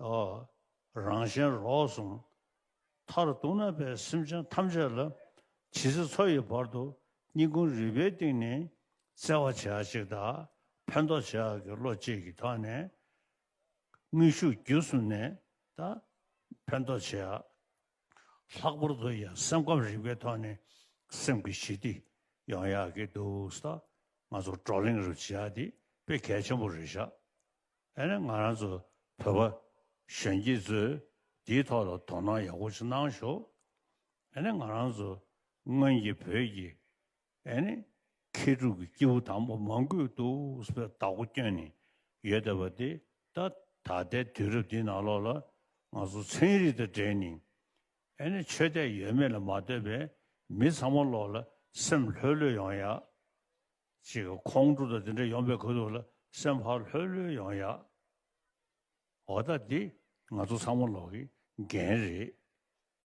རང་བཞིན་རོ་གསུམ་མཐར་གཏུགས་ན་པའི་སེམས་ཅན་ཐམས་ཅད་ལ་ཇི་སྲིད་འཚོ་ཡི་བར་དུ་སྙིང་ཁུང་རུས་པའི་གཏིང་ནས་བརྩེ་བ་བྱེད་ཨ་ཅིག་དང་ཕན་འདོགས་བྱེད་ཨ་གི་བློ་བསྐྱེད་ཀྱི་ཐོག་ནས་དངོས་ཤུགས་བརྒྱུད་གསུམ་ནས་དང་ཕན་འདོགས་བྱེད་ཨ། ལྷག་པར་དུ་ཡང་སེམས་ཁམས་རིག་པའི་ཐོག་ནས་སེམས་ཀྱི་ཞི་བདེ་ཡོང་ཡག་གི་འདུག་ས་ང་ཚོ་བགྲོ་གླེང་རུ་བྱེད་ཨ་དེ་དཔེ་གལ་ཆེན་པོ་རེད་ཤག་ཨ་ནི་ང་རང་ཚོ་བོད་པ་གཞོན་སྐྱེས་ཚོས་འདིའི་ཐོག་ལ་དོ་སྣང་ཡག་པོ་ཞིག་གནང་ཞོག་ཨ་ནི་ང་རང་ཚོ་སྔོན་གྱི་བོད་ཀྱི་ཨ་ནི་མཁས་གྲུབ་ཀྱི་སྐྱེས་བུ་དང་པོ་མང་དགོས་འདུག་པའི་བདག་པོ་སྐྱོན་ནས་ཡོད་བསྡད་པ་དེ་ད་ད་ལྟའི་དུས་རབས་འདི་ནང་ལོགས་ལ་ང་ཚོ་ཚན་རིག་དང་འབྲེལ་ནས་ཨ་ནི་ཆོས་དད་ཡོད་མེད་ལ་མ་ལྟོས་པའི་མི་ཚང་མ་ལོགས་ལ་སེམས་ལྷོད་ལྷོད་ཡོང་ཡག་ཅིག་ཁོང་ཁྲོ་དང་དེ་འདྲ་ཡོང་པའི་གོ་ཐུབ་ལ་སེམས་ཕར་ལྷོད་ལྷོད་ཡོང་ཡ། འོ་ད་འདི་ང་ཚོ་ཚང་མ་ལོག་གི་འགན་རེད།